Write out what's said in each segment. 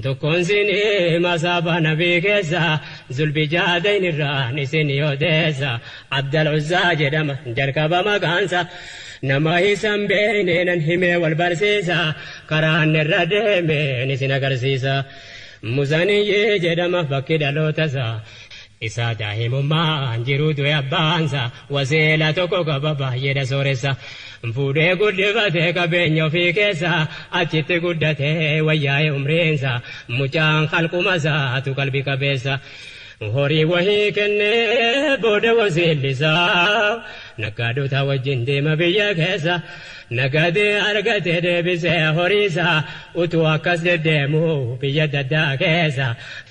Tokkoon siinii masaaba nabii keessa zulbijaadayn irraan isinii odeessa abdal uzzaa jedhama jalqaba maqaansa nama isan beeyne nan himee wal barsiisa karaa inni irra deemeen isin agarsiisa muzaniyyii jedhama bakki dhalootasaa isaa daahimummaan jiruu du'e abbaansa waseela tokko qaba baay'eedha sooressa fuudhee guddifate qabeenya ofii keessa achitti guddate wayyaa'e umriinsa mucaan kalqumasaatu qalbi qabeessa horii wahii kennee booda waseellisaa naggaadota wajjin deema biyya keessa nagadee argate deebisee horiisa utuu akkas deddeemu biyya daddaa keessa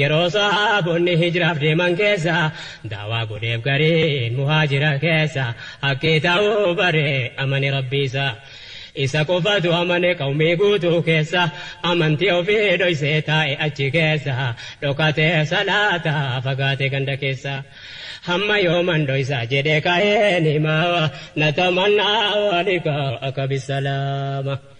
Yeroo sahaabonni hijraaf deeman keessa da'waa godheef gariin muhaajira keessa haqqii ta'uu bare amane Rabbii isaa Isa qofatu amane qawmii guutuu keessa amantii ofii dhoysee taa'e achi keessa dhokatee salaata fagaate ganda keessa Hamma yooman dhoysa jedhe ka'een hima Natamannaa waalika akka bisalaama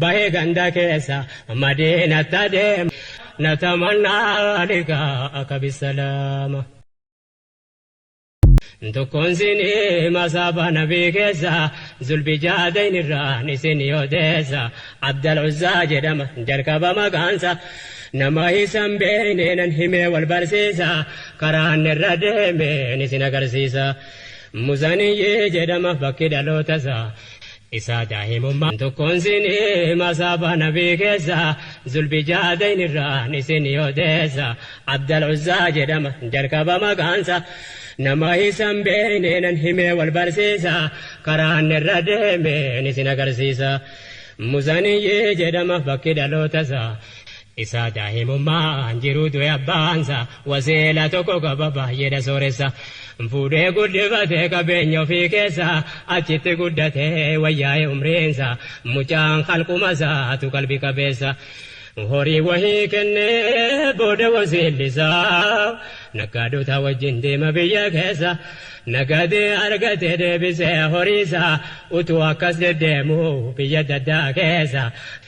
Bahii ganda keessa madiinatti adeema na tamannaa liqaa kabissa lama. Tokkoon sinii masaaba nabii keessa zulbijaadayn irraan isinii odeessa abdal uzzaa jedhama jalqaba maqaansa nama isan beeyne nan himee wal barsiisa karaan irra deemeen isin agarsiisa muzaniyyii jedhama bakki dhalootasaa isaa daahimummaa. An tokkoon siinii masaaba nabii keessa zulbijaadayn irraan isinii odeessa abdal uzzaa jedhama jalqaba maqaansa nama isan beeynee nan himee wal barsiisa karaa anni irra deemeen isin agarsiisa muzaniyyii jedhama bakki dhalootasaa isaa daahimummaan jiruu du'e abbaansa waseela tokko qaba baay'eedha sooressa fuudhee guddifate qabeenya ofii keessa achitti guddate wayyaa'e umriinsa mucaan kalqumasaatu qalbi qabeessa horii wahii kennee booda waseellisaa naggaadhotaa wajjin deema biyya keessa nagadee argate deebisee horiisaa utuu akkas deddeemu biyya daddaa keessa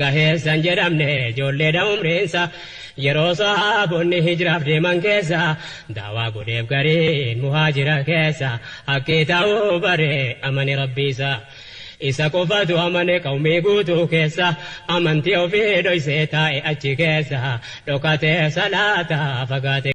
Gaheessa hin jedhamne ijoolleedha umriinsa Yeroo sahaabonni hijraaf deeman keessa Da'waa godheef gariin muhaajira keessa Haqqii ta'uu baree amane Rabbiisa Isa qofatu amane qawmii guutuu keessa Amantii ofii dhoysee taa'e achi keessa Dhokatee salaataa fagaate